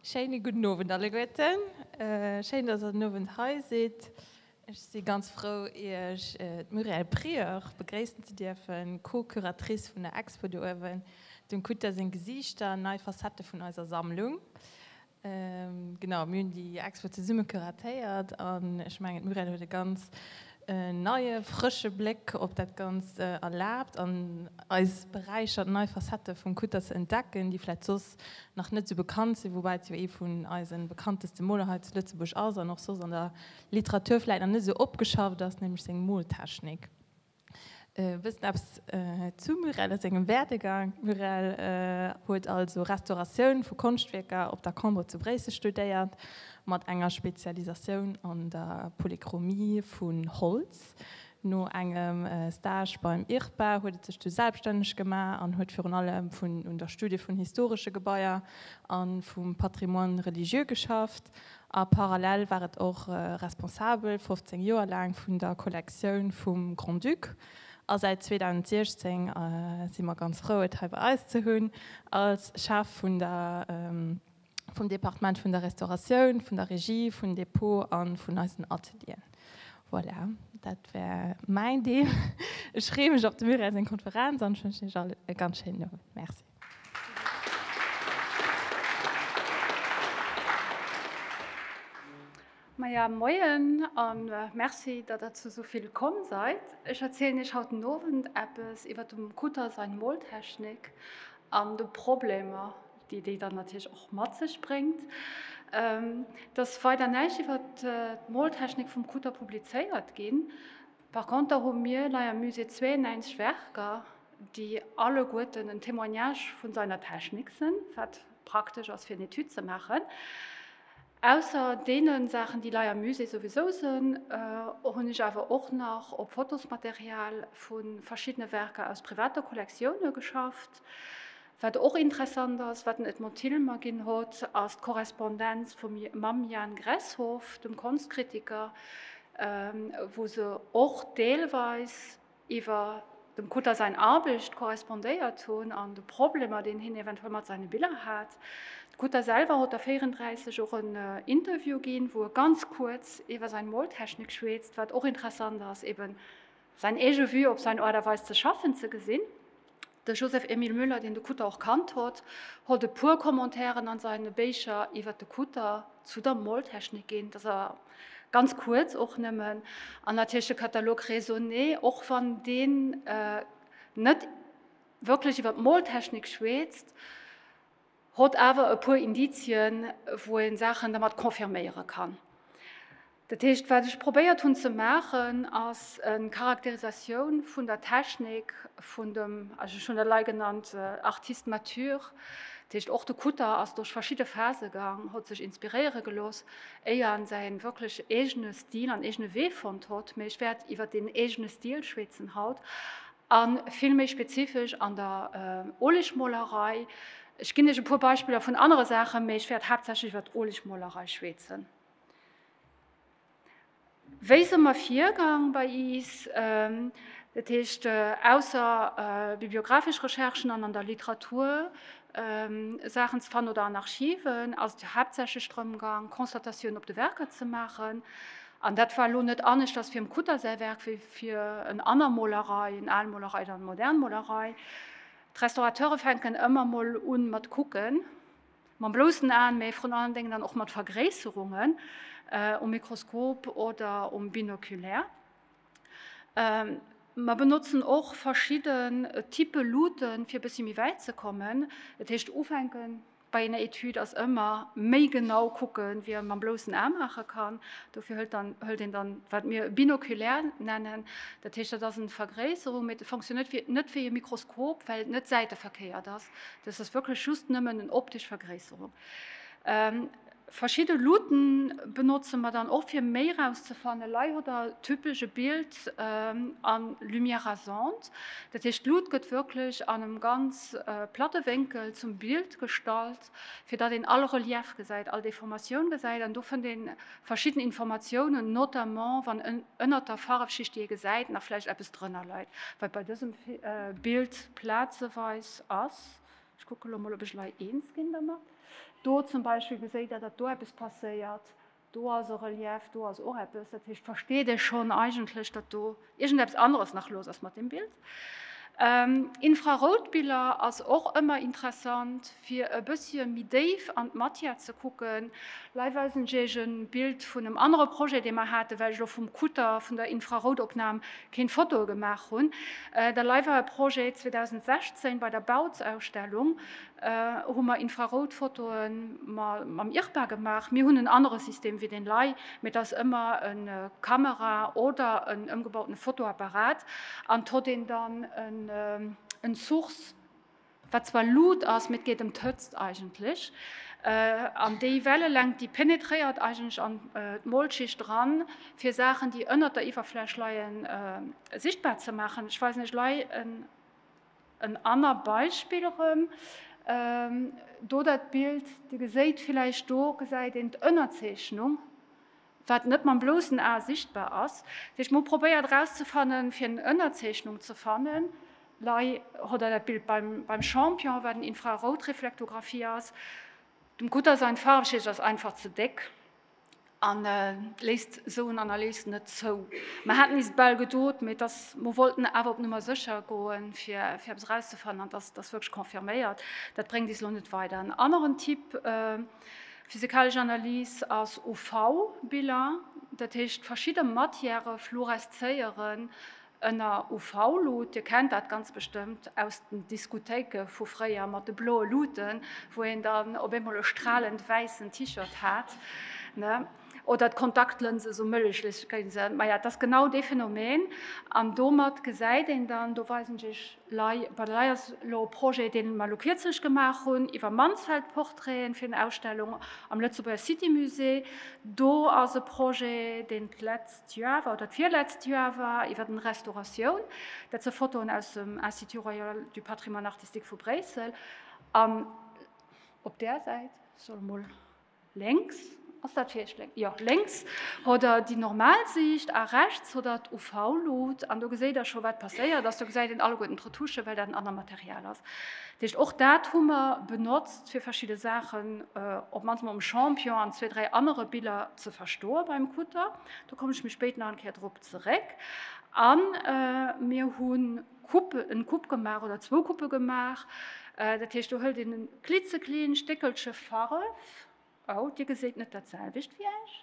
Schéine gudden Owend alleguerten. Schéin, dass der den Owend hei sidd. Ech si ganz frou, Iech d'Muriel Prieur begréissen ze dierfen, Co-Curatrice vun der Expo do uewen, dem Kutter seng Gesiichter, nei Facettë vun eiser Sammlung. Genau, mir hunn déi Expo zesumme curatéiert an ech mengen, d'Muriel huet e ganz En neie frësche Bléck op dat Ganzt erlaabt an eis beräichert, nei Facettë vum Kutter ze entdecken, déi vläicht soss nach net sou bekannt sinn, woubäi et jo ee vun eise bekannteste Moler hei zu Lëtzebuerg ass an och soss an der Literatur vläicht nach net sou opgeschafft ass, nämlech seng Moltechnik. E bëssen eppes zu Murel a sengem Werdegang, Murel huet also Restauratioun vu Konschtwierker op der Cambre zu Bréissel studéiert, mat enger Spezialisatioun an der Polychromie vun Holz. No engem Stage beim IRPA huet et sech du selbststänneg gemaach an huet virun allem un der Studie vun historesche Gebaier a vum Patrimoine religieux geschafft. A parallel war et och Responsabel, 15 Joer laang, vun der Kollektioun vum Grand-Duc. A säit 2016 si mer ganz frou, et hei bei eis ze hunn, als Chef vun der, vum Departement vun der Restauratioun, vun der Regie, vun Depot a vun eisen Atelieren. Voilà, dat war mäin Deel. Ech freeë mech op de Muriel seng Konferenz an ech wënschen iech all e ganz schéinen Owend. Merci. Maja, moien a Merci, datt der zu esou ville komm seit. Ech erzielen Iech haut den Owend eppes iwwert dem Kutter sain Moltechnik an de Problemer, déi déi dann natierlech och mat sech bréngt. Et ass weider näischt iwwert d'Moltechnik vum Kutter publizéiert ginn. Par conter hu mir lei am Musée 92 Werker, déi alleguerten en Témoignage vun seiner Technik sen, wat praktesch as fir en Etude ze maachen. Ausser deenen Saachen, déi lei am Musée souwisou sen, hun ech awer och nach op Fotosmaterial vun verschiddene Werker aus privater Kollektiounen geschafft. Wat och interessant ass, wat den Edmond Thill mer ginn hott, ass d'Korrespondenz vum mam Jan Gresshof, dem Konschtkritiker, wou se och deelweis iwwer dem Kutter säin Arbecht korrespondéiert hunn an de Problemer, deen hien eventuell mat seine Biller hat. De Kutter selwer hott der 34 och en Interview ginn, wou e ganz kuerz iwwer säin Moltechnik schweetzt, wat och interessant ass, eben säin eege Vue op säin Aart a Weis ze schaffen ze gesinn. De Joseph Emile Müller, deen de Kutter och kannt hott, hott e puer Commentairen an seine Béicher iwwert de Kutter zu der Moltechnik ginn. Dass awer ganz kuerz och nëmmen. An natierlech de Katalog Raisonner, och wann deen net wierklech iwwert d'Moltechnik schweetzt, Hott awer e puer Indizien, wou een Saachen dermat confirméieren kann. Dat heescht, wat ech probéiert hunn ze maachen, ass en Charakterisatioun vun der Technik vun dem, ech hunn dat elei genannt, Artiste mature. Dat heescht, och de Kutter ass duerch verschidde Phase gang, hott sech inspiréieren gelooss, éier en säin wierklech eegene Stil an eegene Wee fonnt hott. Mee ech wäert iwwert deen eegene Stil schweetzen haut. A vill méi spezifesch an der Olegmolerei. Ech ginn Iech e puer Beispiller vun anere Saachen, mee ech wäert haaptsächlech iwwer d'Olegmolerei schwäetzen. Wéi se mer virgaang bei iis? Dat heescht, ausser bibliographesch Recherchen an an der Literatur Saachen ze fannen oder an Archiven, ass et haaptsächlech drëm gaang, Constatatioun op de Werker ze maachen. An dat war elo net aneschters fir um Kutter säi Werk wéi fir en aner Molerei, en al Molerei oder eng modern Molerei. D'Restaurateure fänken ëmmer mol un mat kucken, mam bloussen Aen, mä vrun allen Déngen dann och mat Vergréisserungen um Mikroskop oder um Binoculaire. Mer benotzen och verschidden Type Luutten, fir e bëssi méi wäit ze kommen. Dat heescht, ufänken Bei enger Etüd ass ëmmer méi genau kucken, wéi ee mam bloussen A maache kann. Dofir hëlt dann, hëlt een dann, wat mir binokulaire nennen. Dat heescht, dat ass eng Vergréisserung, mee dat funktionéiert wéi, net wéi e Mikroskop, well et net säiteverkéiert ass. Dat ass wierklech just nëmmen eng optesch Vergréisserung. Verschidde Luutte benotze mer dann och fir méi rauszefannen. Lei hutt der typesch e Bild a Lumière rasante, dat heescht d'Luutt gëtt wierklech an engem ganz platte Wénkel zum Bild gestallt, fir datt een all Relief gesäit, all Deformatioun gesäit. An do fënnt ee verschidden Informatiounen, notamment wann ënnert der Farfschicht, déi ee gesäit, nach vläicht eppes drënner leit, wat bei dësem Bild plazeweis ass. Ech kucke lo mol op ech lei eens ginn dermat. Do zum Beispill geséit der datt do eppes passéiert, do ass e Relief, do ass och eppes. Dat heescht versteet ee schonn eigentlech datt do iergendeppes aneres nach los ass mat dem Bild. Infraroutbiller ass och ëmmer interessant fir e bëssche méi déif an d'Matière ze kucken. Lei weisen ech iech e Bild vun em anere Projet dee mer haten, well ech lo vum Kutter, vun der Infraroutopnam Keen Fotoe gemaach hun. Der Leiweier Projet 2016 bei der Bautsausstellung hu mer Infrarout Fotoe mam IRPA gemaach. Mir hun en annere System wéi den Lei, mee et ass ëmmer en Kamera oder en ëmgebauten Fotoapparat an tot een dann en Source Wat zwar luut ass, mee et geet ëm d'Hëtzt eigentlech. An déi Wellelängt, déi penetréiert eigentlech an d'Molschicht eran, fir Saachen, déi ënnert der Iwwerfläch leien, sichtbar ze maachen. Ech weisen iech lei en anner Beispill erëm. Do dat Bild, Dir geséit villäicht, do gesäit een d'Ënnerzeechnung. wat net mam blossen Ae sichtbar ass. Wéi ech mol probéiert erauszefannen, fir eng Ënnerzeechnung ze fannen, lei hodder dat Bild beim Champion, wat en Infraroutreflektographie ass. Dem Cutter säin Faarwschicht ass einfach ze déck an léisst esou en Analys net zou. Mer haten is et bal gedot, mee et ass, mer wollten awer op Nummer sécher goen, fir eppes erauszefannen, an et ass wierklech confirméiert. Dat bréngt is elo net weider. En aneren Tipp. Physikalesch Analys ass UV-Biller, dat heescht verschidde Matièrë fluoreszéieren ënner UV-Lut. Dir kennt dat ganz bestëmmt aus den Diskothéike vu fréier mat de bloe Luten, wou een dann op eemol e stralend wäissen T-Shirt hat, ne? Oder d'Kontaktlënse sou mëllechléch gi sinn. Maja, et ass genau dee Phenomen an domat gesäit een dann, do weisen ech Iech, Lay Badeley ass elo e Projet, deen mer elo kierzlech gemaach hunn, iwwer Mansfeld-Portraiten fir eng Ausstellung am Lëtzebuerger City Musée. Do ass e Projet, deen d'letzt Joer war, oder d'virletzt Joer war, iwwer eng Restauratioun. Dat se Fotoen aus dem Institut Royal du Patrimoine Artistique vu Bréissel. An op där Säit soll emol. Lénks ass dat Virschléi, jo, lénks hott der déi normal Siicht a rechts hott der d'UV-Luut an do geséit der scho wat passéiert ass. Do gesäit een alleguerten d'Retouchen, well dat en anert Material ass. Dat heescht, och dat hu mer benotzt fir verschidde Saachen op d'mannst mol um Champion an zwee, dräi anere Biller ze verstoe beim Kutter. Do kommen ech méi spéit nach eng Kéier drop zeréck. A mir hunn Kupp, en Kupp gemaach oder zwou Kuppe gemaach. Dat heescht do hëlt een en klitzekleent Stéckelche Farf, oh dir geséit net dat selwecht wéi ech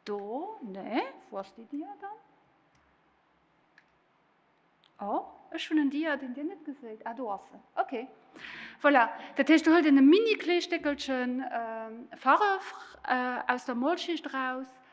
do, nee wou ass déi Dia dann, oh ech hunn en Dia deen dir net geséit, ah do ass en, ok voilà. Dat heescht do hëlt een e mini klee Stéckelche Farf aus der Molschicht eraus,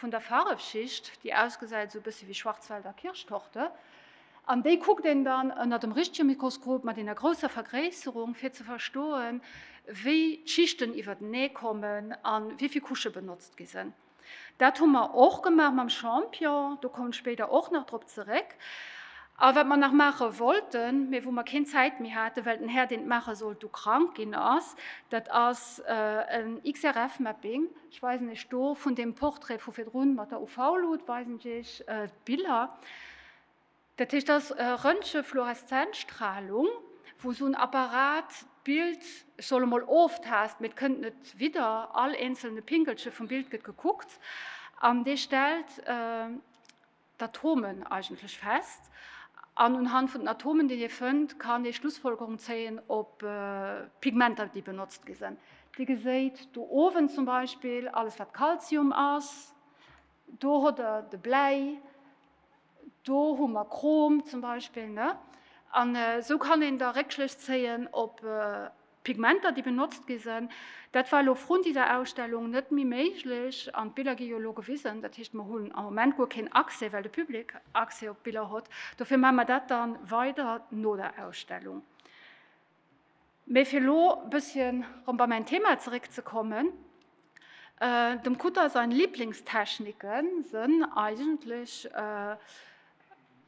vun der Faarefschicht, déi ausgesäit esou e bësse wéi Schwarzwälder Kirschtorte, an déi kuckt een dann ënner dem richtege Mikroskop mat enger grousser Vergréisserung, fir ze verstoen, wéi d'Schichten iwwertenee kommen a wéi vill Couchë benotzt gi sinn. Dat hu mer och gemaach mam Champion, do kommen ech spéider och nach drop zeréck. A wat mer nach maache wollten, mee wou mer keen Zäit méi haten, well den Här, deen et maache sollt, du krank ginn ass, dat ass en XRF-Mapping. Ech weisen Iech do vun dem Portrait vu virdrun mat der UV-Luut weisen ech Iech d'Biller. Dat heescht ass Röntgenfluoreszenzstrahlung, wou sou en Apparat d'Bild, ech soll emol oftast, mee et kënnt net widder, all eenzelne Pinkelche vum Bild gëtt gekuckt an dee stellt, d'Atomen eigentlech fest an unhand vun den Atomen, déi ee fënnt, kann ee Schlussfolgerung zéien op d'Pigmenter, déi benotzt gi sinn. Dir geséit do owen zum Beispill alles, wat Calcium ass. Do hutt Der de Bläi, do hu mer Chrom zum Beispill. An esou kann een da Réckschlëss zéien op. D'Pigmenter, déi benotzt gi sinn, dat war elo vrun dieser Ausstellung net méi méiglech an d'Biller gi jo elo gewisen. Dat heescht, mer hunn am Moment guer keen Accès, well de Public Accès op d'Biller hott. Dofir maache mer dat dann weider no der Ausstellung. Mee fir elo e bësschen rëm bei mäin Thema zeréckzekommen, Dem Kutter sain Lieblingstechniken sënn eigentlech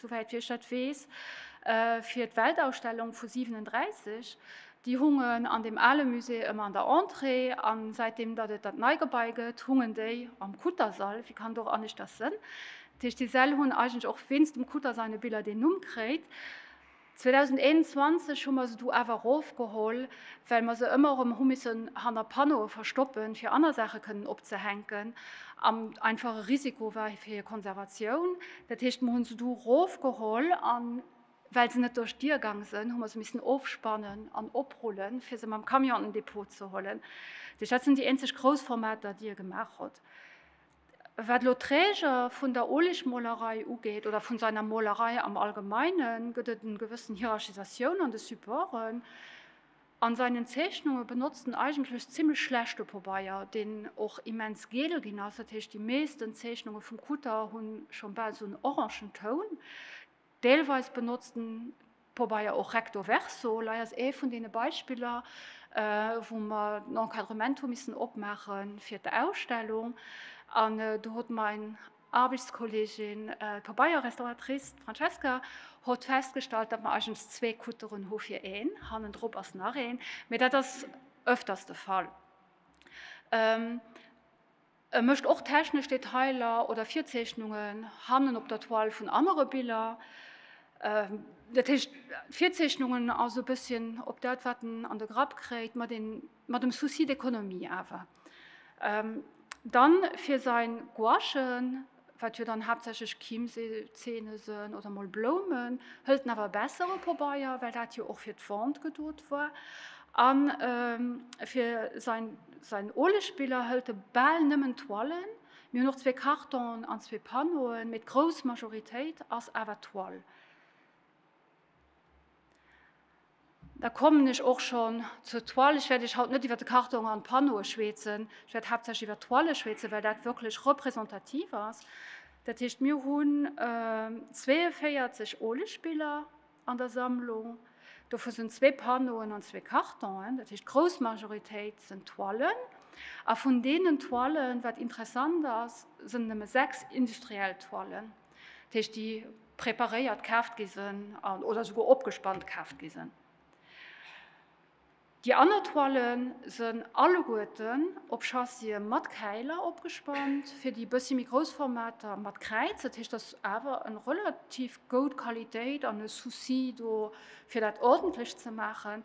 souwäit wéi ech dat weess, fir d'Weltausstellung vu 37. Déi hungen an dem ale Musée ëmmer an der Entrée an säitdeem datt et dat nei Gebai gëtt, hungen déi am Kuttersall. Wie kann do och aneschters sënn? Dat heescht, déi Säll hunn eigentlech och wéinst dem Kuttersall e biller deen Numm kréit. 2021 hu mer se du awer erofgeholl, well mer se ëmmer erëm hu missen hanner Panneaue verstoppen, fir aner Saache kënnen opzehänken, an einfach e Risiko war fir hir Konservatioun. Dat heescht, mer hu se du erofgeholl, a well se net duerch d'Dier gaang sënn, hu mer se missen ofspannen an oprullen, fir se mam Camion an den Depot ze huelen. Dat sinn déi eenzeg grouss Formater, déi e gemaach hutt. Wat elo d'Träger vun der Oleg-Molerei ugeet, oder vu seiner Molerei am Allgemeinen, gëtt et en gewëssen Hierarchisatioun an de Supporten. An seinen Zeechnungen benotzt en eigentlech zimmlech schlechte Pobeier, deen och immens geel ginn ass. Dat heescht, déi meesten Zeechnungen vum Kutter hunn schon bal sou en orangen Toun. Deelweis benotzt den Pobeier och Recto Verso. Lei ass ee vun deene Beispiller, wou mer den Encadrement hu missen opmaache fir d'Ausstellung. An do huet mein Aarbechtskolleegin, d'Pobeierrestauratrice, d'Francesca, huet festgestallt, datt mer eigentlech zwee Kutteren hu fir een. Hannendrop ass nach een, mee dat ass öfters de Fall. E mécht och technesch Detailer oder Virzeechnungen hannen op der Toile vun anere Biller. Dat heescht, d'Virzeechnungen ass e bësschen op dat, wat en an de Grapp kréit, mat een, mat dem Souci d'économie awer. Dann fir säin Gouachen. wat jo dann haaptsächlech Chiemsee-Zeene sënn, oder mol Bloumen, hëlt en awer besser e Pobeier, well dat jo och fir d'Vente gedot war. A fir säin Olespiller hëlt e bal nëmmen Toilen. Mir hunn och zwee Cartonen an zwee Panneauen, mee d'grouss Majoritéit ass awer Toile. Da kommen ech och schonn zur Toile. Ech wäert Iech haut net iwwer de Karton an d'Pannoe schwätzen. Ech wäert haaptsächlech iwwer d'Toile schwätzen, well dat wierklech representativ ass. Dat heescht, mir hunn 42 Olespiller an der Sammlung. Dovu sinn zwee Pannoen an zwee Kartonen. Dat heescht, d'grouss Majoritéit sinn Toilen. A vun deenen Toilen, wat interessant ass, sinn nëmme sechs industriell Toilen. Dat heescht, déi preparéiert kaaft gi sinn oder souguer opgespannt kaaft gi sinn. Déi aner Toile sinn alleguerten op Chassien mat Käiler opgespannt. Fir déi bëssi méi grouss Formater mat Kräiz. Dat heescht, dat ass awer eng relativ goud Qualitéit an e Souci do fir dat ordentlech ze maachen.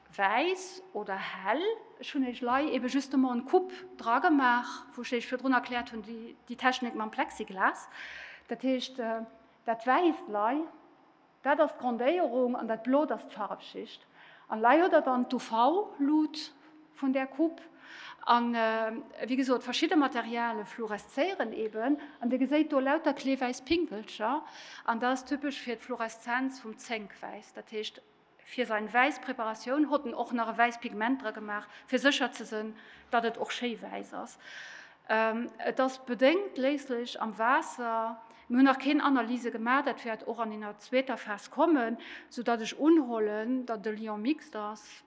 Wäiss oder hell? Ech hunn eech lei eben justement en Coup dra gemaach, wou ech eech virdrun erkläert hunn, déi déi Technik mam Plexiglas. Dat heescht, dat Wäisst lei, dat ass d'Grondéierung an dat Blot ass d'Farwschicht. An lei huet der dann d'UV-Lut vun där Coup. An wéi gesot, verschidde Materiale fluoreszéieren eben. An dir geséit do lauter klee wäiss Pinkelcher. An dat ass typesch fir d'Fluoreszenz vum Zénkwäiss. Dat heescht, Fir sein wäiss Preparatioun hot en och nach e wäiss Pigment dra gemaach fir secher ze sen dat et och schéi wäiss ass. Et ass bedéngt léislech am Waasser. Mir hun nach keen Analyse gemaach, dat wäert och an enger zweeter Phas kommen, sou dat ech unholen dat e Lion mixte ass.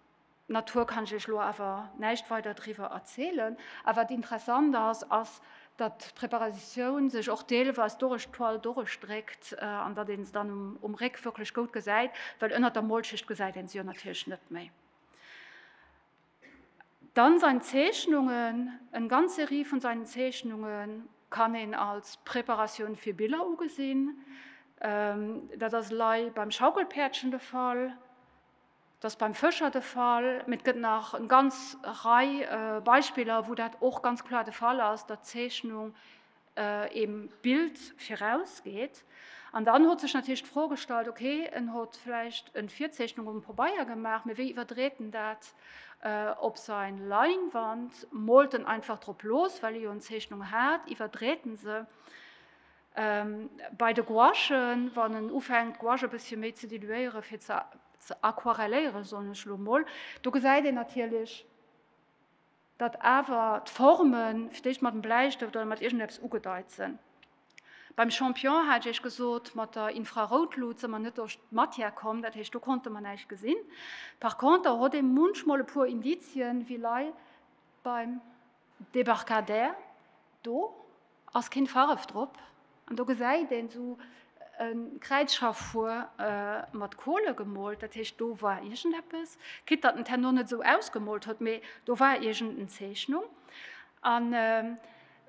D'Natur kann ech iech elo awer näischt weider driwwer erzielen. A wat interessant ass, ass, datt d'Preparatioun sech och deelweis durech d'Toile durechdréckt an datt een se dann um Réck wierklech goud gesäit, well ënnert der Molschicht gesäit een se jo natierlech net méi. Dann sein Zeechnungen, Eng ganz Serie vun seinen Zeechnungen kann een als Preparatioun fir Biller ugesinn. Dat ass elei beim Schaukelpäerdchen de Fall. Dat ass beim Fëscher de Fall, mee et gëtt nach eng ganz Rei Beispiller, wou dat och ganz kloer de Fall ass, datt d'Zeechnung dem Bild virausgeet. An dann huet sech natierlech d'Fro gestallt, okay, en huet vläicht eng Virzeechnung um Pabeier gemaach, mee wéi iwwerdreet en dat op säi Leinwand? Moolt en einfach drop los, well e jo eng Zeechnung hat? Iwwerdreet en se? Bei de Gouachen, wann en ufänkt d'Gouache e bëssche méi ze diluéiere fir ze ze aquarelléiere soen ech elo mol, do gesäit een natierlech, datt awer d'Forme fir d'éischt mat dem Bläistëft oder mat iergendeppes ugedeit sinn. Beim Champion hat ech Iech gesot, mat der Infraroutlut si mer net duerch d'Matière komm, dat heescht do konnte mer näischt gesinn. Par conter hott ee munchmol e puer Indizien wéi lei beim. Débarcadère, do ass keen Faref drop an do gesäit een sou en Kräizschaffuer mat Kohle gemoolt, dat heescht do war iergendeppes, quitt datt en Tenno net sou ausgemoolt huet, mee do war iergenden Zeechnung. An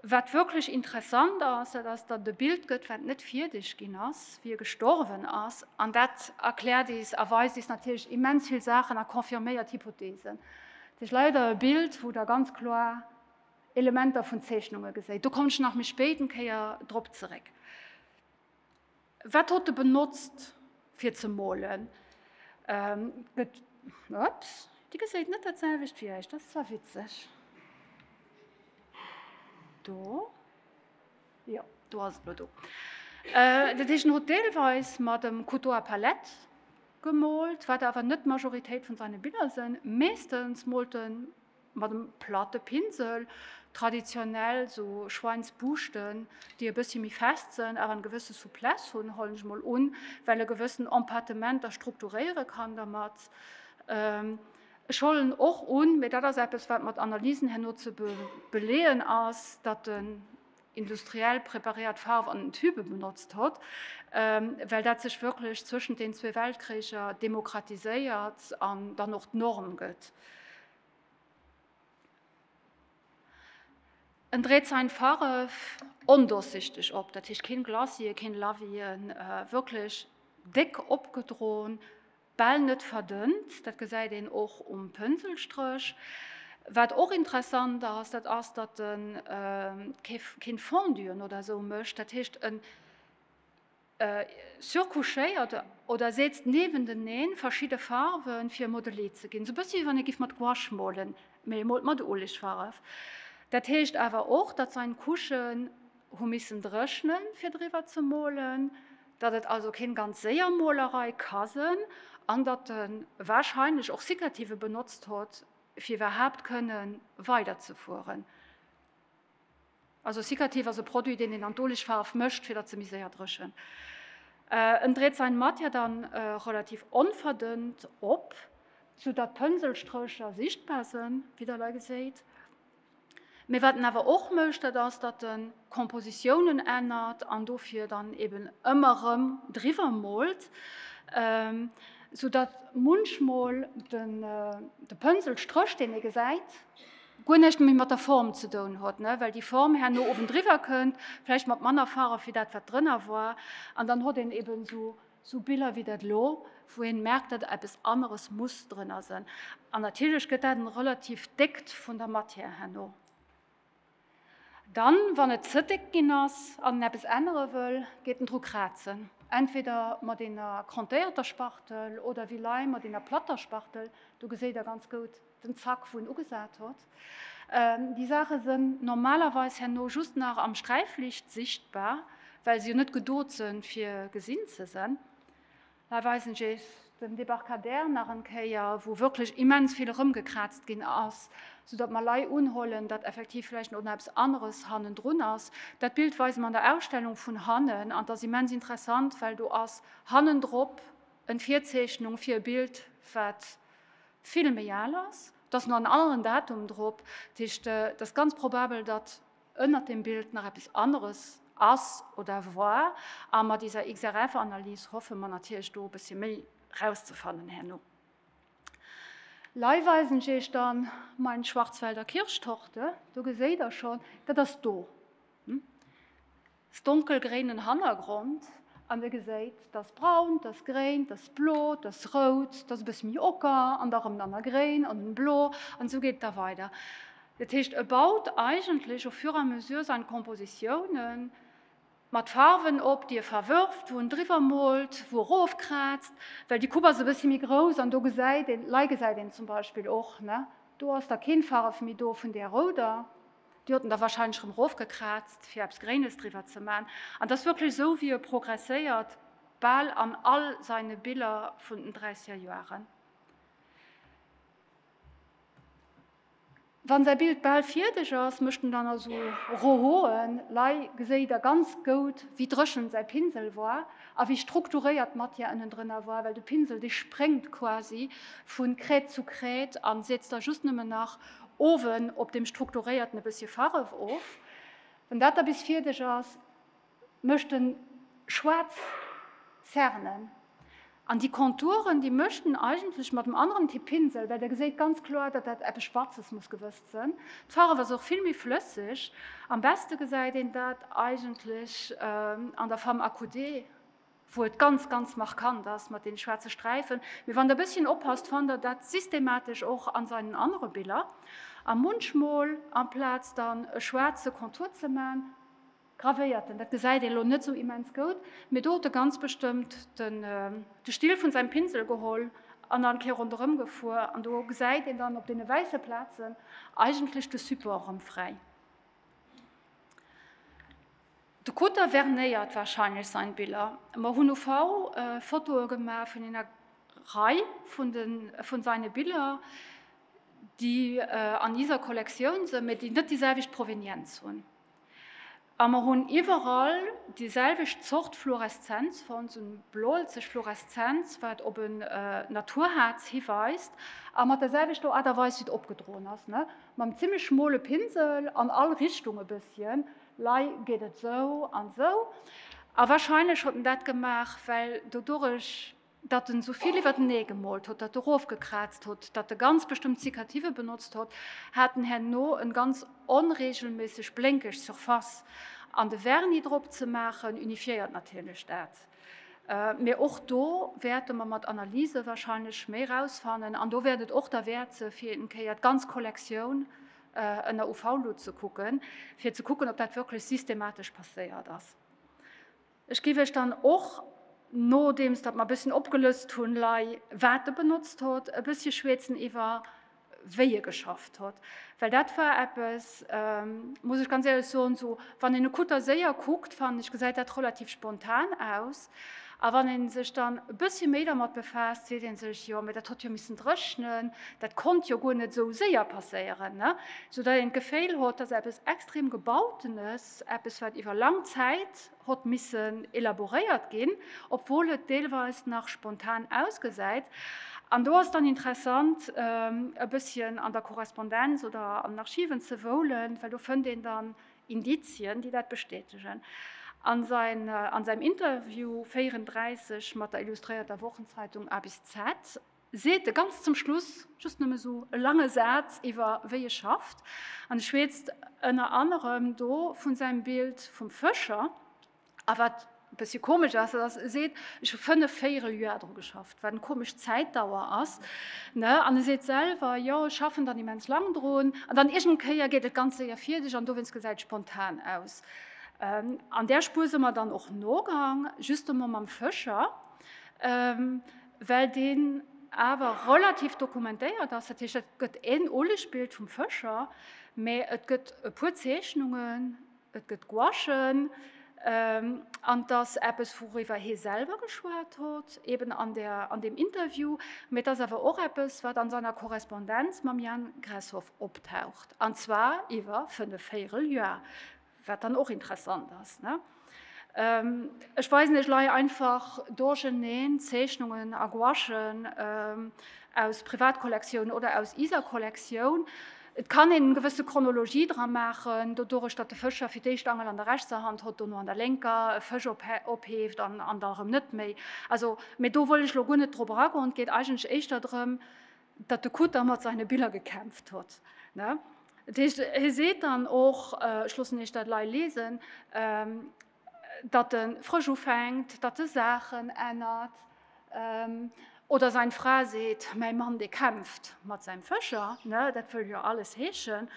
wat wierklech interessant ass, dat ass datt e Bild gëtt wat net fierdeg ginn ass wéi e gestorwen ass an dat erklärt is a weist is natierlech immens vill Saachen a confirméiert Hypotheesen. Sech leider e Bild wou der ganz kloer Elementer vun Zeechnunge geséit. Do kommen ech nach méi spéit eng Kéier drop zeréck. Wat hot de benotzt fir ze molen? Gëtt ups déi geséit net dat selwecht wéi eis, dat ass zwar witzeg do. Jo, do ass et lo do. Dat heescht, en huet deelweis mat dem Couteau à palette gemoolt, wat awer net d'Majoritéit vun seine Biller sënn. Meeschtens moolt e mat dem platte Pinsel, traditionell esou Schweinsbuuschten, déi e bëssi méi fest sënn, awer eng gewësse Souplesse hunn, huelen ech mol un, well e gewëssen Empattement da strukturéiere kann dermat. Ech hollen och un, mä dat ass eppes, wat mat Analysen herno ze beleeën ass, datt den Industriell preparéiert Farf an den Tube benotzt hott, well dat sech wierklech zwëschent den zwee Weltkricher demokratiséiert an dann och d'Norm gëtt. En dréit sein Farf ondurchsichtig op, dat heescht keen Glacier, keen Lavier, wierklech déck opgedroen, Bal net verdënnt, dat gesäit een och um Pënselstréch. Wat och interessant ass, dat ass, datt e keen Fonduen oder esou mécht, dat heescht e surcouchéiert oder setzt niewenteneen verschidde Farwe fir Modelé ze ginn, esou e bëssche wéi wann ee giff mat Gouache molen, mee ee molt mat Olegfarf. Dat heescht awer och, datt sein Couchen. Hu missen dréchnen fir driwwer ze molen, datt et also keen ganz séier Molerei ka sen, an datt en wahrscheinlech och Cicativen benotzt hott fir iwwerhaapt kënnen weider ze fueren. Also Cicative ass e Produit deen een an d'Oligfaarf mëscht fir datt se méi séier dréchent. En dreet sain Matière dann relativ onverdënnt op, su datt d'Pënselstrécher sichtbar sen, wéi der lei geséit. Mee wat en awer och mécht, dat ass, datt e Kompositiounen ännert an dofir dann eben ëmmer erëm driwwer moolt, soudatt munchmol de Pënselstréch, deen ee gesäit, guer näischt méi mat der Form ze doen huet, well déi Form herno owendriwwer kënnt, vläicht mat manner Farw wéi dat, wat drënner war, an dann huet een eben esou Sou Biller wéi dat elo, wou een merkt dat der eppes aneres muss drënner sen. An natierlech gëtt dat en relativ déckt vun der Matière herno. Dann wann et ze déck ginn ass an en eppes ännere wëll, geet en dru krazen. Entweder mat eener krontéierter Spachtel oder wéi lei mat eener platter Spachtel. Do geséit der ganz goud. den Zack wou en ugesat hott. Déi Saache sen normalerweis herno just nach am Sträiflicht sichtbar, well se jo net gedot sen fir gesin ze sen. Hei weisen ech Iech den Debarcadère nach en Kéier, wou wierklech immens vill eremgekraazt gin ass, sou datt mer lei unhuelen, datt effektiv vläicht och nach eppes aneres hannendrun ass. Dat Bild weise mer an der Ausstellung vun hannen, an t'ass immens interessant, well do ass hannendrop en Virzeechnung fir e Bild, wat vill méi al ass, et ass nach en aneren Datum drop, dat heescht et ass ganz probabel, datt ënnert deem Bild nach eppes aneres ass oder war. A mat iser XRF-Analys hoffe mer natierlech do e bëssche méi rauszefannen herno. Lei weisen ech Iech dann mein Schwarzwälder Kirschtorte, do geséit Der schonn, dat ass do. s donkelgréinen Hannergrond an der geséit s datt braunt, datt gréint, datt s blot, datt s rout, datt s e bëss méi ocker an da rëm nanner gréin an nun blo an esou geet et da weider. Dat heescht e baut eigentlech au fur et à mesure sain Kompositiounen mat Farwen op, déi e verwërft, wou en driwwer moolt, wou e rofkraazt, well déi Coupe ass e bëssi méi grouss an do gesäit een, lei gesäit een zum Beispill och, ne, do ass da keen Farf méi do vun där rouder, Déi haten da wahrscheinlech erëm erofgekraazt, fir eppes Gréines driwwer ze man. An et ass wierklech esou, wéi e progresséiert, bal an all seine Biller vun den dräisseger Joaren. Wann säi Bild bal fierdeg ass, mécht en dann also Rohoen. Lei geséit der ganz goud, wéi dréchen säi Pinsel war a wéi strukturéiert d'Matière ënnendrënner war, well de Pinsel, dee spréngt quasi vun Crête zu Crête an sietzt da just nëmmen nach Owen op dem strukturéierten e bëssche Farf of. Wann dat da bis fierdeg ass, mëscht en schwaarz Zernen. An déi Konturen, déi mëscht en eigentlech mat dem aneren Typ Pinsel, well Der geséit ganz kloer, datt dat eppes Schwarzes muss gewësst sënn. D'Farf ass och vill méi flësseg. Am beste gesäit een dat eigentlech an der Femme accoudée. wou et ganz, ganz markant ass mat den schwarze Sträifen, mee wann der bësschen oppasst fannt der dat systematesch och an seinen anere Biller, a munchmol amplaz dann e schwarze Kontur ze man, gravéiert en, dat gesäit een elo net sou immens goud, mee do huet e ganz bestëmmt den de Still vun seim Pinsel geholl an an d'Kéier ronderëm gefuer, an do gesäit een dann op dene wäisse Plazen eigentlech de Support rëm fräi. De Code tavernéiert wahrscheinlech sain Biller. Mer hun uv Fotoe gemaach vun ener Rei vun saine Biller, déi an iser Kollektioun sen, mee déi net déi selwecht Provenienz hun. A mer hun iwerall déi selwecht Zort Fluoreszenz fond, sou en bloelzeg Fluoreszenz, waat op en Naturhaarz hiweist, a mat der selwechter Art a Weis wéi et opgedroen as, mam zimlech schmole Pinsel an all Richtung e besschen. Lei geet et sou an sou. A wahrscheinlech huet en dat gemaach, well dodurech, datt en souvill iwwertenee gemoolt huet, datt e rofgekraazt huet, datt e ganz bestëmmt Cicativen benotzt huet, hat en herno en ganz onregelméisseg blénkeg Surface. An de Vernis drop ze maachen, unifiéiert natierlech dat. Mee och do wäerte mer mat Analyse wahrscheinlech méi rausfannen. An do wäert et och derwäert se fir een Kéier d'ganz Kollektioun ënner UV-Luut ze kucken, fir ze kucken, ob dat wierklech systematesch passéiert ass. Ech géif Iech dann och, nodeems datt mer e bësschen opgelëst hunn, lei, wat e benotzt huet, e bëssche schwäetzen iwwer, wéi e geschafft huet. Well dat war eppes, muss ech ganz éierlech soen, esou wann een e Kutter séier kuckt, fannen ech, gesäit dat relativ spontan aus. A wann ee sech dann e bëssche méi dermat befaasst, seet ee sech, jo, mä dat hätt jo missen dréchnen, dat konnt jo guer net esou séier passéieren. Soudatt een d'Geféil hott, dass eppes extrem Gebautenes, eppes wat iwwer lang Zäit hott missen elaboréiert ginn, obwuel et deelweis nach spontan ausgesäit. An do ass et dann interessant e bësschen an der Korrespondenz oder an den Archiven ze woulen, well do fënnt een dann Indizien, déi dat bestätegen. A säim Interview 34 mat der illustréierter Wochenzeitung abc seet e ganz zum Schluss just nëmme sou e lange Saz iwwer wéi e schafft an e schweetzt ënner anerem do vu säim Bild vum Fëscher, A wat e bëssche komesch ass, dat ass, e seet, ech hu fënnef, véierel Joer dru geschafft, wat eng komesch Zäitdauer ass. An e seet selwer, jo, ech schaffen dann immens laang drun. An dann iergendeng Kéier geet et ganz séier fierdeg an dowéinst gesäit et spontan aus. An där Spuer si mer dann och nogaang, just emol mam Fëscher, well deen awer relativ dokumentéiert ass. Dat heescht, et gëtt en Ulegsbild vum Fëscher, mä et gëtt e puer Zeechnungen. Et gëtt Gouachen, an et ass eppes, wouriwwer hie selwer geschwat huet, eben an deem Interview. Mee et ass awer och eppes, wat a senger Korrespondenz mam Jan Gressoff optaucht, an zwar iwwer fënnef Véireljoer, wat dann och interessant ass. Ech weisen iech lei einfach duercheneen Zeechnungen a Gouachen aus Privatkollektioun oder aus iser Kollektioun. Et kann een gewësse Chronologie dra maachen, dodurech datt de Fëscher fir d'éischt Angel an der rechtser Hand hott, dono an der lénker, e Fësch opheeft an an da erëm net méi. Also, mee do wëll ech elo guer net drop eragoen. Et geet eigentlech éischter drëm, datt de Kutter mat seine Biller gekämpft hott. Dat heescht, hie seet dann och, ech loossen Iech dat elei lesen, datt e frësch ufänkt, datt e Saachen ännert oder säin Fra seet, mäi Mann dee kämpft mat säim Fëscher, dat wëll jo alles heeschen.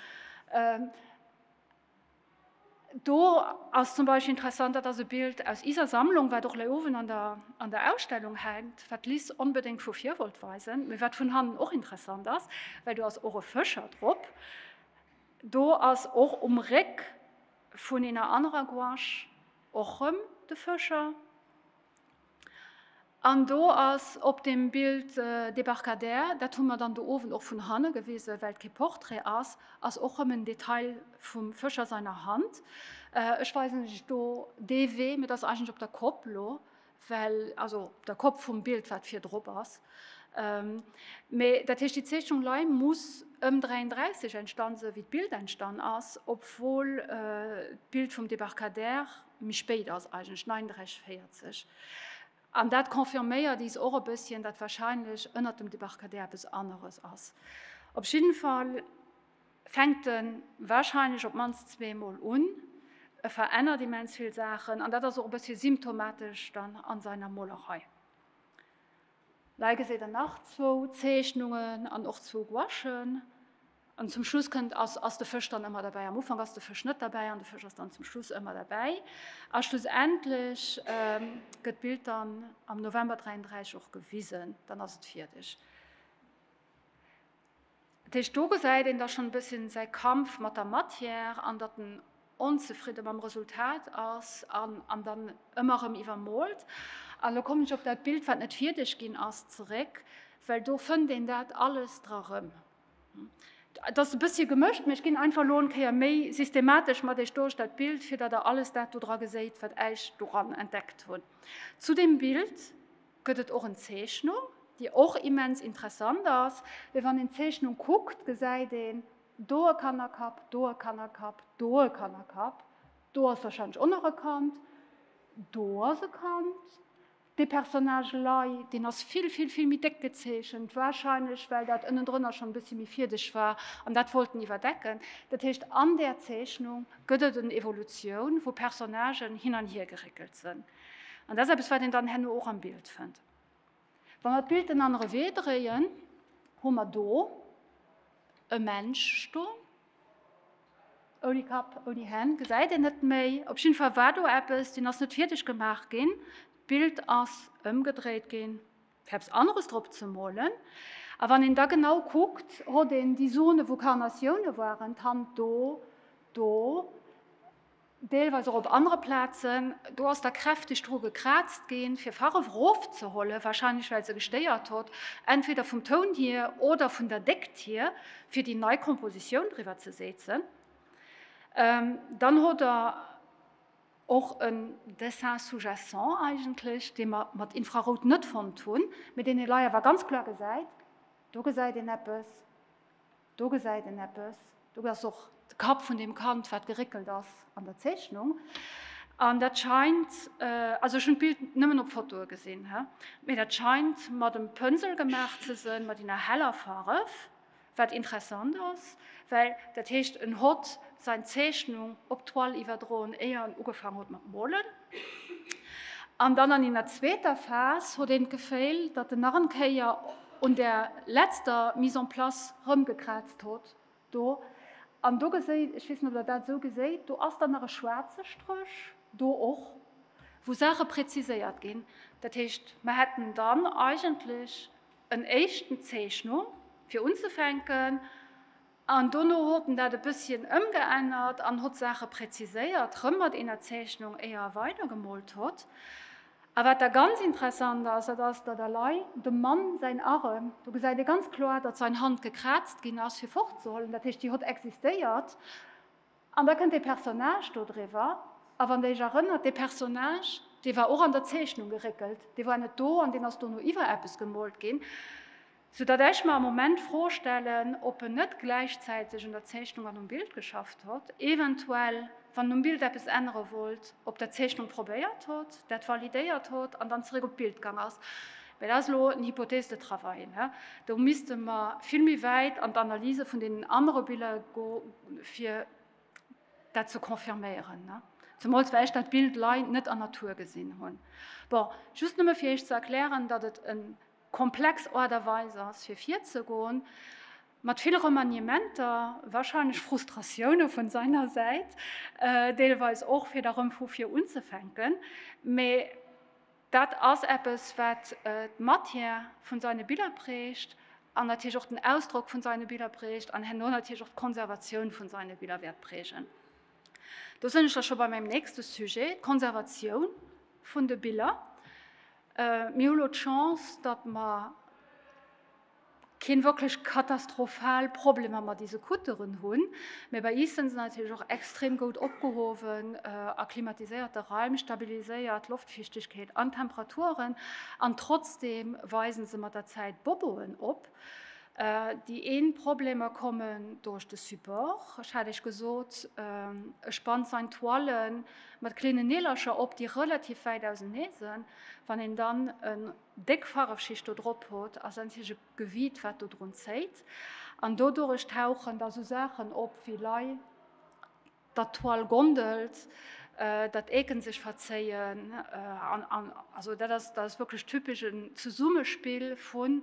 Do ass zum Beispill interessant, dat ass e Bild aus iser Sammlung, wat och lei Owend an der Ausstellung hänkt, wat d'Liz onbedéngt vu vir wollt weisen, mee wat vun hannen och interessant ass, well do ass och e Fëscher drop. Do ass och um Réck. Vun eener anerer Gouache och rem de Fëscher. An do ass op dem Bild Débarcadère, dat hu mer dann de Owend och vun hanne gewisen, well et kee Portrait ass, ass och rem en Detail vum Fëscher seiner Hand. Ech weisen lech do dee Wee, mee dat ass eigentlech op der Kopp lo, well also der Kopp vum Bild wat vir drop ass, mee dat heescht déi Zeechnung lei muss ëm 33 entstann sinn, wéi d'Bild entstann ass, obwuel d'Bild vum Debarcadère méi spéit ass, eigentlech 39, 40. An dat confirméiert is och e bësschen, datt wahrscheinlech ënnert dem Debarcadère eppes aneres ass. Op jidden Fall. fänkt e warscheinlech op d'mannst zweemol un, e verännert immens vill Saachen, an dat ass och e bëssche symptomatesch dann a seiner Molerei. Hei geséit Der nach zwou Zeechnungen an och zwou Gouachen. An zum Schluss kënnt ass ass de Fësch dann ëmmer derbäi. Am Ufank ass de Fësch net derbäi an de Fësch ass dann zum Schluss ëmmer derbäi. A schlussendlech gëtt d'Bild dann am November 33 och gewisen, dann ass et fierdeg. Dat heescht, do gesäit een da schonn e bësschen säi Kampf mat der Matière an datt en onzefridde mam Resultat ass an an dann ëmmer erëm iwwermolt. An elo kommen ech op dat Bild, wat net fierdeg ginn ass, zeréck, well do fënnt een dat alles dra rëm. Et ass e bëssche gemëscht, mee ech ginn einfach elo eng Kéier méi systematesch mat Iech duerch dat Bild, fir datt Der alles dat do dra geséit, wat Äich doran entdeckt hunn zu deem Bild. Gëtt et och en Zeechnung, déi och immens interessant ass. Mee wann een d'Zeechnung kuckt, gesäit een, do e Kannerkapp, do e Kannerkapp, do e Kannerkapp, do ass warscheinlech och nach e Kand, do ass e Kand. Dee Personnage Lei, deen ass vill, vill, vill méi déck gezeechent, warscheinlech well dat ënnendrënner schonn e bëssi méi fiedeg war an dat wollt en iwwerdecken. Dat heescht, an där Zeechnung gëtt et en Evolutioun, wou Personnagen hin an hiergeréckelt sinn. An dat ass eppes, wat een dann herno och am Bild fënnt. Wa mer d'Bild en anere Wee dréien, hu mer do e Mensch stoen, ouni Kapp, ouni Hänn, gesäit een net méi. Op jidde Fall war do eppes, deen ass net fierdeg gemaach ginn. D'Bild ass ëmgedréit ginn, fir eppes aneres drop ze molen. A wann een da genau kuckt, hott een déi Zone, wou Carnatioune waren, d'Hand do, do, deelweis och op anere Plazen, do ass da kräfteg dru gekraazt ginn, fir Farf erofzeholen, wahrscheinlech well se gestéiert hott, entweder vum Toun hier oder vun der Déckt hier, fir déi nei Kompositioun driwwer ze setzen. Dann hott der och en Dessin sous-jacent eigentlech, dee mer mat Infrarout net fonnt hunn, mee deen ee lei awer ganz kloer gesäit, Do gesäit een eppes. Do gesäit een eppes, do ass och de Kapp vun deem Kand, wat geréckelt ass an der Zeechnung. An dat scheint, also ech hunn d'Bild nëmmen op Fotoe gesinn, mee dat scheint mat dem Pënsel gemaach ze sënn, mat ener heller Farf, wat interessant ass, well dat heescht en hott sain Zeechnung op d'Toile iwwerdroen éier en ugefaang hott mat molen. An dann an eener zweeter Phas hot een d'Geféihl, datt en nach en Kéier un där letzter Mise en place rëmgekraazt hot do. An do geséit, ech weess net, ob Der dat esou geséit, do ass dann nach e schwaarze Stréch do och, wou Saache präziséiert ginn. Dat heescht, mer hätten dann eigentlech en éischten Zeechnung, fir unzefänken, An dono hott en dat e bësschen ëmgeännert an hott Saache präziséiert, rëm mat eener Zeechnung, éier e weidergemoolt hott. A wat da ganz interessant ass, dat ass, datt elei dem Mann säin Arem, do gesäit ee ganz kloer, datt säin Hand gekraazt ginn ass, fir fortzehuelen, dat heescht, déi hott existéiert. An da kënnt dee Personnage do driwwer. A wann Der Iech erënnert, dee Personnage, dee war och an der Zeechnung geréckelt, dee war net do an deen ass dono iwwer eppes gemoolt ginn. Sou datt ech mer am Moment d'Fro stellen, ob en net gläichzäiteg un der Zeechnung an um Bild geschafft hott, eventuell, wann en um Bild eppes ännere wollt, op der Zeechnung probéiert hott, dat validéiert hott an dann zeréck op d'Bild gang ass. Mä dat ass elo en Hypothèse de travail. Do misste mer vill méi wäit an d'Analyse vun deenen anere Biller go fir dat ze confirméieren. Zemools well ech dat Bild lei net an Natur gesinn hunn. Bon, just nëmme fir Iech ze erklären, datt et en. komplex Aart a Weis ass fir virzegoen, mat vill Remaniementer, wahrscheinlech Frustratioune vun seiner Säit, deelweis och fir da rëm vu vir unzefänken, mee dat ass eppes wat d'Matière vun seine Biller prägt an natierlech och den Ausdrock vun seine Biller prägt an herno natierlech och d'Konservatioun vun seine Biller wäert prägen. Do sënn ech da scho bei mäim nächste Sujet, d'Konservatioun vun de Biller. Mir hu lo d'Chance, datt mer kee wierklech katastrophal Problemer mat dese Kutteren hunn, mä bei is sënn se natierlech och extrem goud opgehowen a klimatiséierte Raim, stabiliséiert Loftfiichtegkeet an Temperaturen. An trotzdeem weisen se mat der Zäit Boboen op. Déi een Problemer kommen durch de Support. Ech hat Iech gesot, ech banzen Toilen mat kleenen Nielercher op, déi relativ wäit ausenee sen. Wann een dann en déck Farwschicht do drop hot, ass endlech e Gewiit wat do drun zéit. An dodurech tauchen da sou Saachen op wéi lei dat d'Toile gondelt, dat d'Eken sech verzéien. Also dat ass wierklech typesch en Zesummespill vun.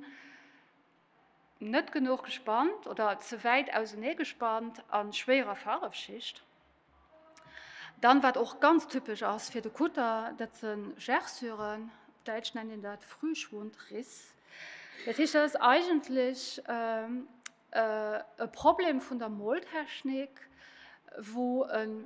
Net genuch gespannt oder ze wäit ausenee gespannt a schwéierer Farwschicht. Dann wat och ganz typesch ass fir de Kutter, dat se Gerçuren, op Däitsch nennt een dat Frühschwundriss. Dat heescht dat ass eigentlech ähm, äh, e Problem vun der Moltechnik, wou e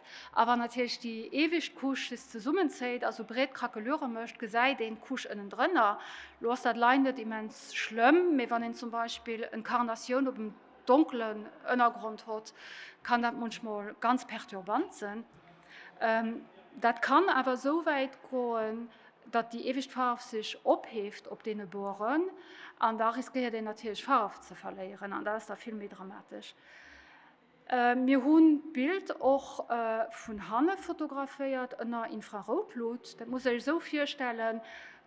A wann natierlech déi iewescht Couche just zesummenzéit a sou breet Krakelure mécht, gesäit een d'Couche ënnendrënner. Lo ass dat lei net immens schlëmm, mee wann een zum Beispill en Carnatioun op em donkelen Ënnergrond hott, kann dat munchmol ganz perturbant sen. Dat kann awer esou wäit goen, datt déi iewescht Faarf sech opheeft op deene Boren an da riskéiert een natierlech Faarf ze verléieren an dat ass da vill méi dramatesch. Mir hunn d'Bild och vun hanne fotograféiert ënner Infraroutlut. Dat musst Dir Iech esou virstellen,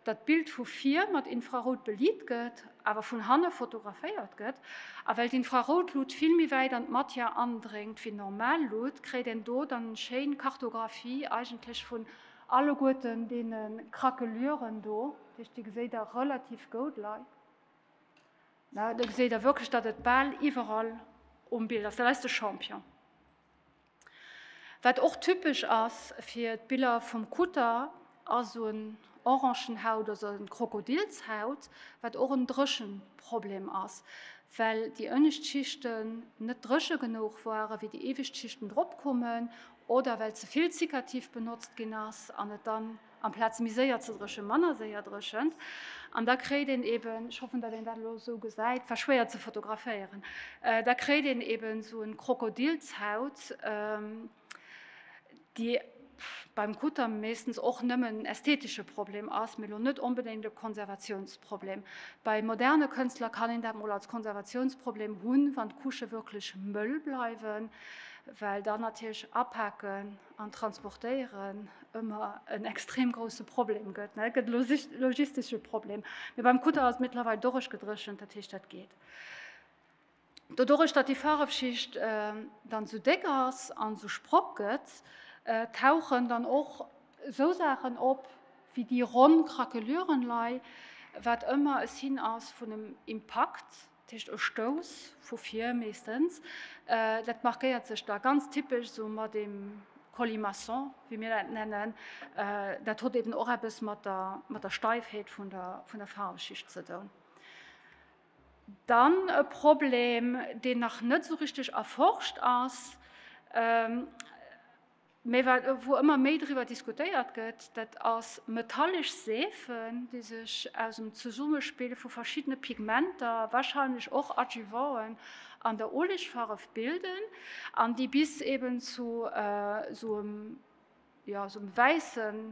datt d'Bild vu vir mat Infrarout beliit gëtt, awer vun hanne fotograféiert gëtt. A well d'Infraroutlut vill méi wäit an d'Matière andréngt wéi normal Lut, kréit een do dann eng schéin Kartographie eigentlech vun alleguerten deene Krakeluren do. Dir geséit der relativ goud lei. Na, do geséit der wierklech, datt et bal iwwerall um Bild ass. Dat ass de Champion. Wat och typesch ass fir d'Biller vum Kutter, ass un Orangenhaut, also un Krokodilshaut, wat och en Dréchenproblem ass, well déi ënnescht Schichten net dréche genuch waren, wéi déi iewescht Schichten drop kommen, oder well ze vill Zikativ benotzt ginn ass an et dann Amplaz méi séier ze dréchent, manner séier dréchent. An da kréit een eben, ech hoffen, datt een dat elo esou gesäit, war schwéier ze fotograféieren, da kréit een eben esou en Krokodilshaut, déi beim Kutter meeschtens och nëmmen en ästhetesche Problem ass, mee elo net onbedéngt e Konservatiounsproblem. Bei moderne Kënstler kann een dat mol als Konservatiounsproblem hunn, wann d'Couchë wierklech mëll bleiwen, well dann natierlech apaken, an Transportéieren ëmmer en extrem grousse Problem gëtt, ne? Et gëtt e logistesche Problem. Mee beim Kutter ass et mëttlerweil dorueggedréchent, dat heescht, dat geet. Doduerch, datt déi Faarefschicht dann esou déck ass an esou Sprock gëtt, tauchen dann och esou Saachen op wéi déi ronn Krakelurenlei, wat ëmmer e Signe ass vun engem Impakt. Dat heescht e Stouss vu vir meeschtens. Dat markéiert sech da ganz typesch esou mat deem Colimaçon, wéi mir dat nennen. Dat huet eben och eppes mat der, mat der Steifheet vun der, vun der Faarwschicht ze doen. Dann e Problem, deen nach net esou richteg erforscht ass. Mee wat, wou ëmmer méi driwwer diskutéiert gëtt, dat ass metallesch Seefen, déi sech aus dem Zesummespill vu verschiddene Pigmenter, warscheinlech och Adjuvanten, an der Uelegfarf bilden an déi bis eben zu esou engem, ja, esou engem wäissen.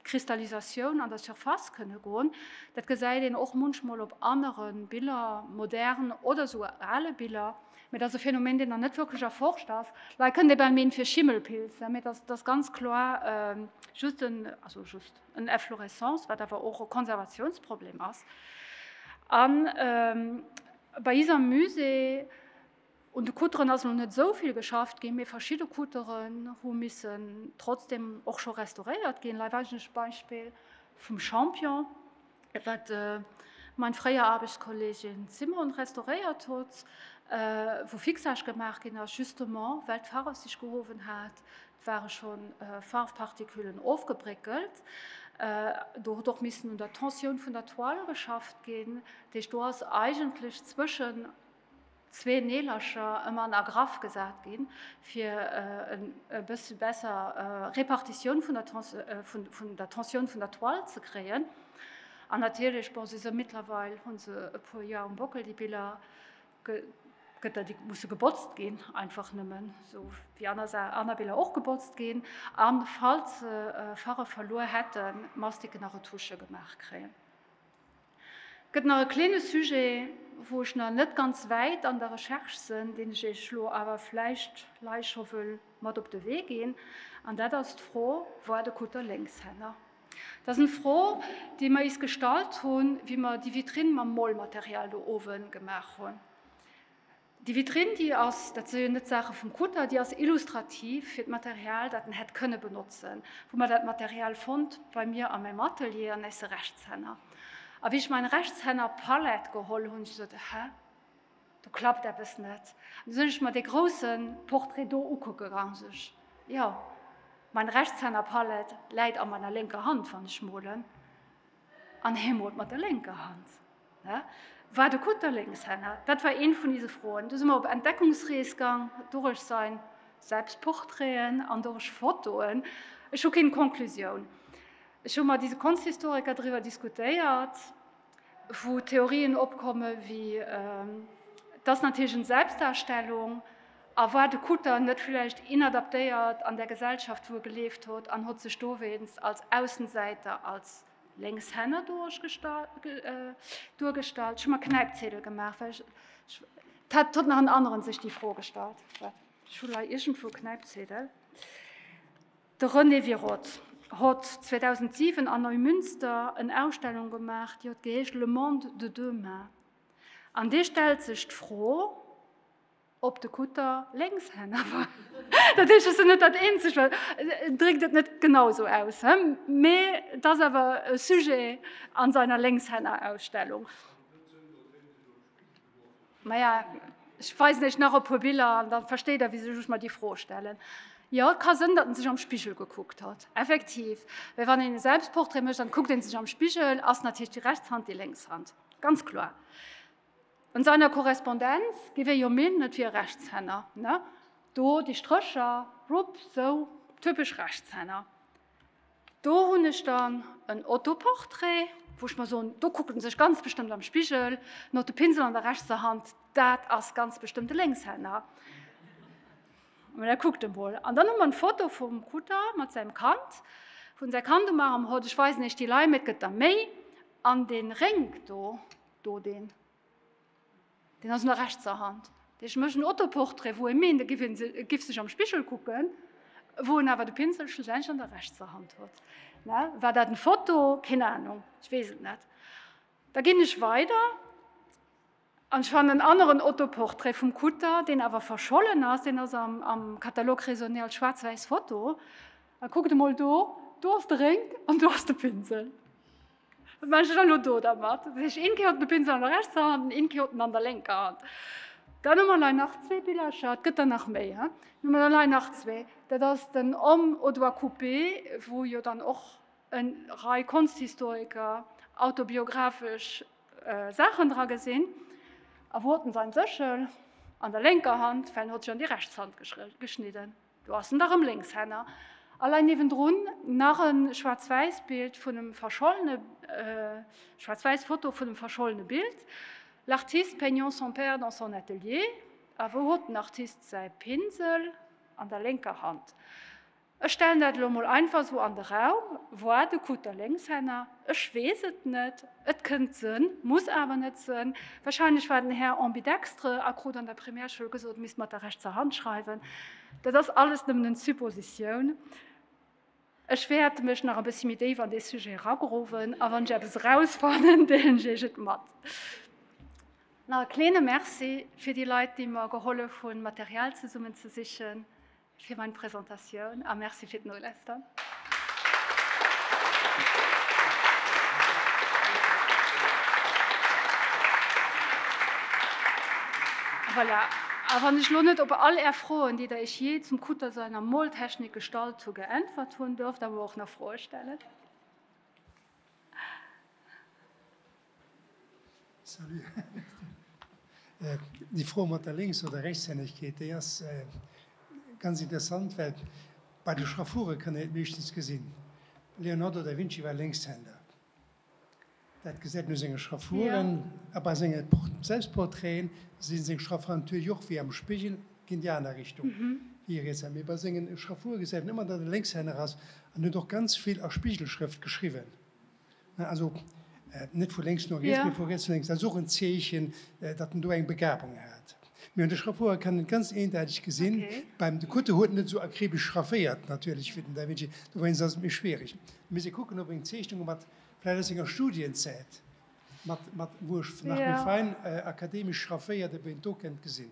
Kristallisatioun an der Surface kënne goen. Dat gesäit een och munchmol op anere Biller, modern oder esouguer ale Biller. Mee dat ass e Phänomen, deen nach net wierklech erforscht ass. Leit kënnen ee bal meen fir Schimmelpilz, mee dat ass ganz kloer just en, also just, en Efflorescence, wat awer och e Konservatiounsproblem ass. A bei iser Musée. Un de Couteren ass elo net esou vill geschafft ginn, mee verschidde Couteren hu missen trotzdeem och scho restauréiert ginn. Lei eigentlech Beispill vum Champion, wat mein fréier Aarbechtskollegin Simone restauréiert hutt, wou Fixage gemaach ginn ass, justement well d'Farf sech gehowen hat. Et ware scho Farfparticulen ofgebréckelt. Do huet och missen un der Tensioun vun der Toile geschafft ginn. Dat heescht, do ass eigentlech zwëschen. zwee Neelercher ëmmer an Agraff gesat ginn, fir e bësse besser Repartitioun vun der Tensioun vun der Toile ze kréien. An natierlech, bon, si se mittlerweil, hu se e puer Joer um Bockel, déi Biller, gëtt der, déi musse gebotzt ginn, einfach nëmmen esou wéi aner Biller och gebotzt ginn, a falls se Faref verluer hätten, Mastiken a Retusche gemaach kréien. Gëtt nach e kleene Sujet, wou ech nach net ganz wäit an der Recherche sënn, deen ech Iech elo awer vläicht lei scho wëll mat op de Wee ginn, an dat ass d'Fro Voir de Kutter Lénkshänner. Dat ass eng Fro, déi mer is gestallt hunn, wéi mer déi Vitrine mam Molmaterial do owe gemaach hunn. Déi Vitrinn, déi ass, dat si jo net d'Saache vum Kutter, déi ass illustrativ fir d'Material, dat en hätt kënne benotzen. Wou mer dat Material fonnt? Bei mir a mäim Atelier, an eis Rechtshänner. A wéi ech mäin Rechtshänner Palette geholl hunn, hu ech gesot, Hä, do klappt eppes net. An du sinn ech mer dee grousse Portrait do ukucke gaang, sot ech, Jo, mäin Rechtshänner Palette läit a meiner lénker Hand, wann ech molen. An hie mot mat der lénker Hand. Hä? War de Kutter Lénkshänner? Dat war een vun ise Froen. Du si mer op Entdeckungsrees gang, durech sein Selbstportraiten an durech Fotoen. Ech hu keen Konklusioun. Ech hu mat ise Konsthystoriker driwwer diskutéiert, wou Theorien opkomme wéi, dass natierlech en Selbstdarstellung, A war de Kutter net villäicht inadaptéiert an der Gesellschaft, wou e gelieft hott, an hott sech dowéinst als Aussensäiter, als Lénkshänner duergestallt? Ech hu mer Knäipzedel gemaach, well ech, et hat hott nach en aneren sech déi Fro gestallt. Wat, ech hu lei iergendwou Knäipzedel. De René Wiroth hott 2007 an Neumünster en Ausstellung gemaach, déi hott geheescht Le monde de demain. An dee stellt sech d'Fro, Op de Kutter Lénkshänner war. Dat heescht, ech sinn net dat eenzegt, well en dréckt et net genau esou aus, mee et ass awer e Sujet an seiner Lénkshännerausstellung. Maja, ech weisen Iech nach e puer Biller an da versteet Der, wisou ech mer déi Fro stellen. Jo, et ka sënn, datt en sech am Spigel gekuckt hat, effektiv. Well wann een e Selbstportrait mécht, dann kuckt een sech am Spigel, ass natierlech déi rechts Hand déi lénks Hand, ganz kloer. Un seiner Korrespondenz gi wir jo minen, et wier e Rechtshänner, ne? Do déi Strécher, rupp, sou, typesch Rechtshänner. Do hunn ech dann en Autoportrait, wou ech mer soen, do kuckt en sech ganz bestëmmt am Spigel, no de Pinsel an der rechtser Hand, dat ass ganz bestëmmt e Lénkshänner. Mä da kuckt emol. An dann hu mer d'Foto vum Kutter mat säim Kand, wou en säi Kand um Arm hott, ech weisen Iech déi Lime, et gëtt der méi, an dee Rénk do, Do deen. Deen ass un der rechtser Hand. Dee ech mécht en Autoportrait, wou e meent, e giff een, e giff sech am Spigel kucken, wou en awer de Pinsel schlussendlech an der rechtser Hand huet. Ne? War dat en Foto? Keen Ahnung, ech weess et net. Da ginn ech weider an ech fannen en aneren Autoportrait vum Kutter, deen awer verschollen ass, deen ass am, am Catalogue raisonné als schwaarz-wäiss Foto. A kuckt emol do, do ass de Rénk an do ass de Pinsel. Wat maachen ech dann elo do dermat? Dat heescht, een Kéier hat de Pinsel an der rechtser Hand an een Kéier hat en an der lénker Hand. Dann hu mer lei nach zwee Billercher, et gëtt der nach méi, hä? Hu mer der lei nach zwee, dat ass den Homme au doigt coupé, wou jo dann och e Rei Konsthistoriker autobiographesch Saachen dra gesinn. A wou hat en säin Séchel? An der lénker Hand, well en huet sech an déi rechts Hand geschnidden. Do ass en da rëm Lénkshänner. A lei niewendrun nach e Schwaarz-Wäiss Bild vun em verschollene, Schwaarz-Wäiss Foto vun em verschollene Bild, L'artiste peignant son père dans son atelier. A wou hot den Artist säi Pinsel? An der lénker Hand. Ech stellen dat elo mol einfach esou an de Raum, Voir de Kutter, Lénkshänner. Ech weess et net. Et kënnt sënn, muss awer net sënn. Wahrscheinlech war den Här ambidextre a krut an der Primärschoul gesot, misst mat der rechtser Hand schreiwen. Dat ass alles nëmmen en Suppositioun. Ech wäert mech nach e bëssi méi déif an dee Sujet eragrowen a wann ech eppes erausfannen, deelen ech iech et mat. Nach e kleene Merci fir déi Leit, déi mer gehollef hunn, Material zesummenzesichen. Fir meng Presentatioun a Merci fir d'Nolausstern. Voilà, a wann ech elo net op all Är Froen, déi Der Iech jee zum Kutter seiner Moltechnik gestallt hu, geäntwert hunn, duerft Der mer och nach Froe stellen. Salut. Déi Fro mat der Lénks oder Rechtshännegkeet, déi ass ganz interessant, well bei de Schraffuren kann een et meeschtens gesinn. Leonardo da Vinci war Lénkshänder. Dat gesäit een u senge Schraffuren. A bei senge Selbstportraiten sinn seng Schraffuren natierlech och wéi am Spigel, ginn déi aner Richtung wéi e Rietshänner. Mee bei senge Schraffuren gesäit een ëmmer, datt e Lénkshänner ass. An en huet och ganz vill a Spigelschrëft geschriwwen. Also net vu lénks no riets, mee vu riets no lénks. Dat ass och en Zeechen, datt en do eng Begabung hat. Mee un de Schraffurer kann een et ganz eendeiteg gesinn. Beim de Kutte huet net esou akribesch schrafféiert natierlech wéi den Da Vinci. Dowéinst ass et méi schwiereg. Mir misse kucken, ob eng Zeechnung mat, vläicht aus senger Studienzäit, mat, mat, wou ech nach méi fein akademesch schrafféiert, ob een d'do kënnt gesinn.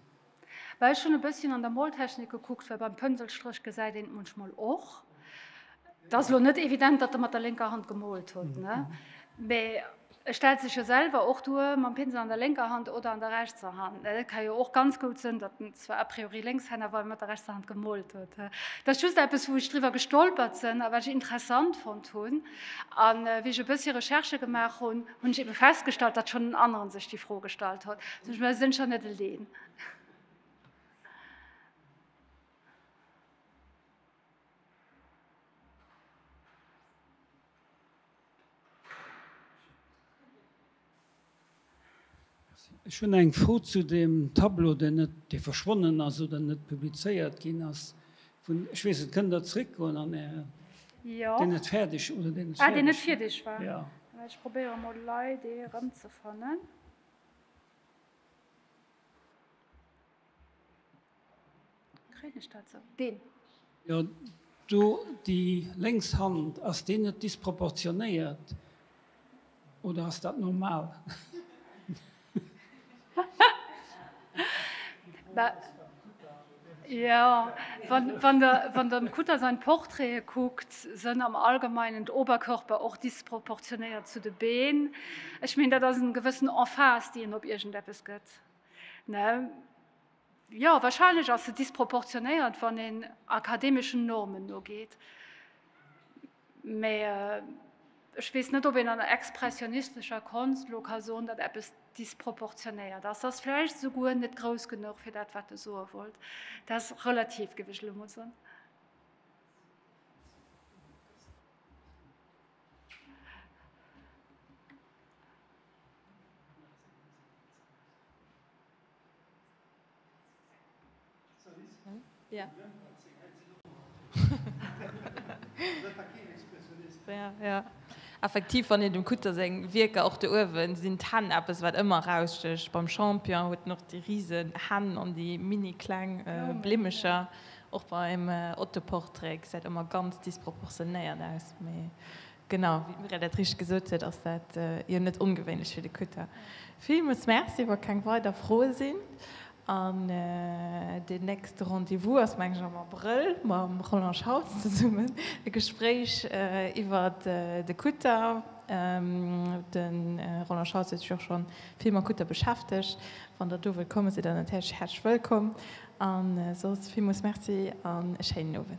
Well ech hunn e bësschen an der Moltechnik gekuckt, well beim Pënselstréch gesäit een et munchmol och. Et ass elo net evident, datt e mat der lénker Hand gemolt hutt, ne? Mä e stellt sech jo selwer och duer mam Pinsel an der lénker Hand oder an der rechtser Hand, ne? Et ka jo och ganz goud sënn, datt en zwar a priori Lénkshänner war, mä mat der rechtser Hand gemolt hutt. Et ass just eppes, wou ech driwwer gestolpert sënn a wat ech interessant fonnt hunn, a wéi ech e bëssi Recherchë gemaach hunn. Hunn ech eben festgestallt, datt schonn en aneren sech déi Fro gestallt hott. Sech mer sënn scho net eleen. Ech hunn eng Fro zu deem Tableau, deen net, dee verschwonnen ass oder net publizéiert ginn ass vun, ech weess net, kënnt Der zréckgoen an Äre, deen net fäerdeg, oder deen net fäerdeg war? Ah, deen net fierdeg war. Jo. Mä ech probéiere mol lei, dee erëmzefannen. Kréien ech dat sou? Deen. Jo, do déi lénks Hand. Ass deen net disproportionéiert oder ass dat normal? Jo, wann Der wann Der dem Kutter sain Portraite kuckt, sen am allgemeinen d'Oberkörper och disproportionéiert zu de Been. Ech meen dat ass en gewëssen Emphase déi en op iergendeppes gëtt, ne? Jo, wahrscheinlech ass se disproportionéiert, wann een akademeschen Normen nogeet. Mee ech weess net, ob een an der expressionistescher Konscht elo ka soen, datt eppes disproportionéiert ass. Se ass vläicht esouguer net grouss genuch fir dat, wat de soe wollt. Dat ass relativ, géif ech elo emol soen. Effektiv, wann een dem Kutter seng Wierker, och do uewen sinn d'Hänn eppes wat ëmmer erausstëcht, beim Champion huet en och déi risen Hänn an déi mini kleng Blimmecher, och beim Autoportrait gesäit ëmmer ganz disproportionéiert aus, mee Genau, wéi d'Mirelle dat richteg gesot huet, ass dat jo net ongewéinlech fir de Kutter. Villmools Merci. Wa keng weider Froe sinn, an deen nächste Rendez-vous ass mengen ech am Abrëll mam Roland Schauls zesummen, e Gespréich iwwer de Kutter. De Roland Schauls huet sech och schonn vill mam Kutter beschäftegt. Wann der do wëllt kommen, sidd der natierlech häerzlech wëllkomm. An soss villmols Merci an e schéinen Owend.